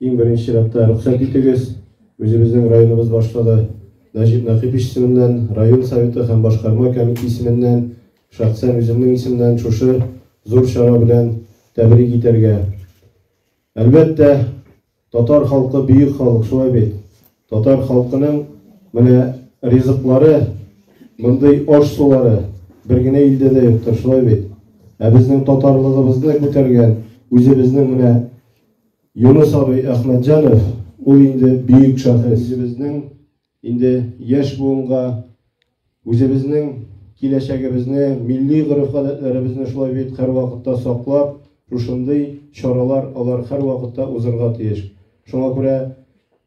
Иң беренче чиратта рөхсәт итегез, үзебезнең районыбыз башлыгы Нәҗип Нәкыйпич исеменнән, район Советы һәм башкарма комите исеменнән, шәхсән үземнең исемнән шушы зур чара белән тәбрик итәргә. Әлбәттә, татар халкы бөек халык, шулай бит? Татар халкының менә ризыклары, мондый аш-сулары бер генә илдә дә юктыр, шулай бит? Ә безнең татарлыгыбызны күтәргән, үзебезнең менә Юныс абый Әхмәтҗанов ул инде бөек шәхес. Үзебезнең инде яшь буынга үзебезнең киләчәгебезне, милли гореф-гадәтләребезне шулай бит һәрвакытта саклап, шушындый чаралар алар һәрвакытта узырга тиеш. Шуңа күрә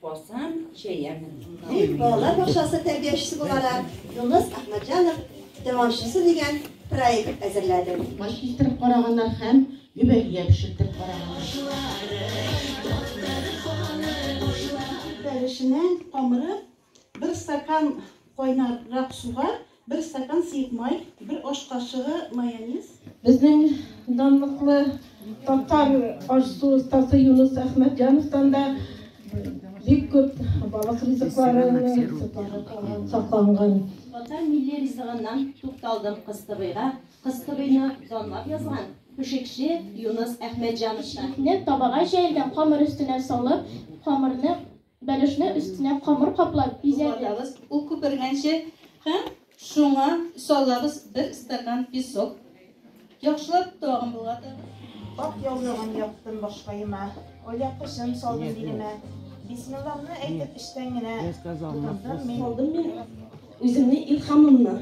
Барсам, җәярмен. Дип, балалар бакчасы тәрбиячесе буларак Юныс Әхмәтҗанов дәвамчысы дигән проект әзерләде. Май кистереп караганнар һәм гөбәгия пешертеп караганнар. Бәрәшенең камыры бер стакан кайнаррак суга Бер стакан сыек май, бер аш кашыгы майонез. Безнең данлыклы татар ашсу остасы Юнус Әхмәтҗановтан да бик күп балык ризыклары сакланган. Татар милли ризыгыннан тукталдым кыстыбыйга, кыстыбыйны данлап язган пешекче Юнус Әхмәтҗановтан. Итне табага җәелгән камыр өстенә салып, камырны Бәлешне өстенә камыр каплап бизәдек. Ул күпергәнче һәм шуңа салабыз бер стакан песок. Яхшылап тагын болгатабыз. Ак яулыгын яптым башкаема, оя кышын салдым билемә. Бисмиллахны әйтеп эчтән генә тотындым мин. Салдым мин үземне илхамымны.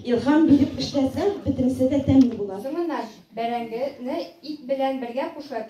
Илхам биреп эшләсәң, бөтенесе дә тәмле була. Соңыннан бәрәңгене ит белән бергә кушып,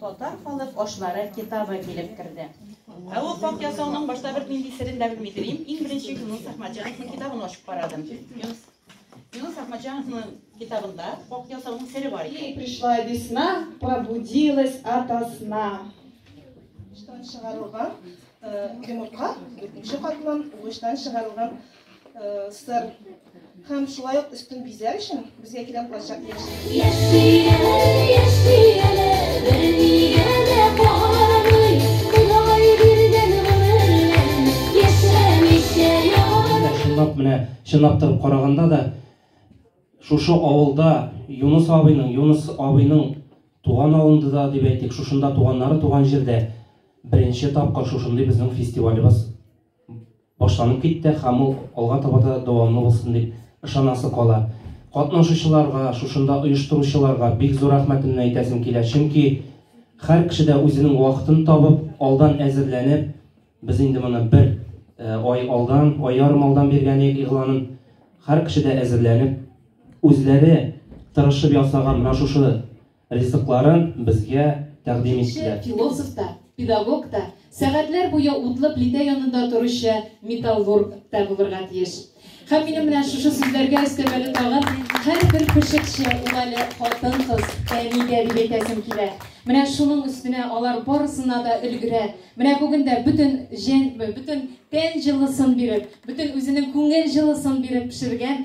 Татар халык ашлары китабы килеп керде. Ә ул пак ясауның башта бер нинди серен дә белми телим. Иң беренче Юнус Ахмаджановның китабын ачып карадым. Юнус Юнус Ахмаджановның китабында пак ясауның сере бар икән. Пришла весна, пробудилась ото сна. Штан чыгарылган йомырка, дүртенче катлам, угычтан чыгарылган сыр һәм шулай ук өстен бизәр өчен безгә кирәк булачак Чынлап менә чынлап торып караганда да шушы авылда Юнус абыйның, Юнус абыйның туган авылында да дип әйтик, шушында туганнары туган җирдә беренче тапкыр шушындый безнең фестивалебыз башланып китте һәм ул алга таба да дәвамлы булсын дип ышанасы кала. Катнашучыларга, шушында оештыручыларга бик зур рәхмәтемне әйтәсем килә, чөнки һәр кеше дә үзенең вакытын табып, алдан әзерләнеп, без инде моны бер ай алдан, ай ярым алдан биргән идек игъланын, һәр кеше дә әзерләнеп, үзләре тырышып ясаган менә шушы Ризыкларын безгә тәкъдим иттеләр. Кеше, философ та, педагог та, сәгатьләр буе утлы плитә янында торучы металлург та булырга тиеш. Һәм минем менә шушы сүзләргә өстәп әле тагын һәрбер пешекче ул әле хатын-кыз, әнигә дип әйтәсем килә. Менә шуның өстенә алар барысына да өлгерә. Менә бүген дә бөтен җен, бөтен тән җылысын биреп, бөтен үзенең күңел җылысын биреп пешергән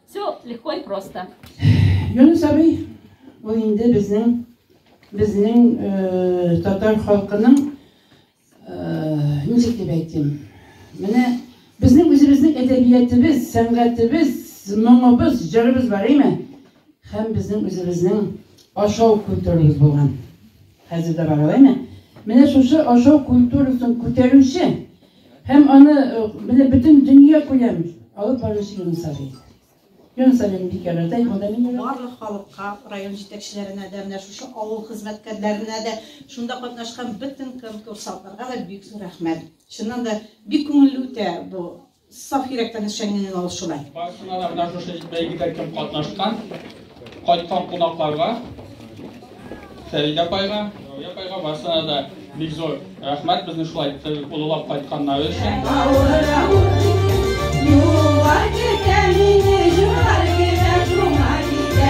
Все легко и просто. Юнус абый, ул инде безнең безнең э, татар халкының э, ничек дип әйтим? Менә безнең үзебезнең әдәбиятыбыз, сәнгатебез, моңыбыз, җырыбыз бар име? Һәм безнең үзебезнең ашау культурабыз булган. Хәзер дә бар ул, әйме? Менә шушы ашау культурасын күтәрүче һәм аны менә бөтен дөнья күләм алып баручы Юныс абый. Юныс абыйны бик ярата, ул да мине барлык халыкка, район җитәкчеләренә дә, менә шушы авыл хезмәткәрләренә дә, шунда катнашкан бөтен конкурсантларга да бик зур рәхмәт. Чыннан да бик күңелле үтә бу Саф йөрәктән эшчәнлеген ул шулай. Барысына да менә шушы бәйгедә кем катнашкан, кайткан кунакларга, Фәридә апайга, Рәүя апайга барысына да бик зур рәхмәт безне шулай олылап кайтканнары өчен. Юлга китә мине җуар китә шуңа китә.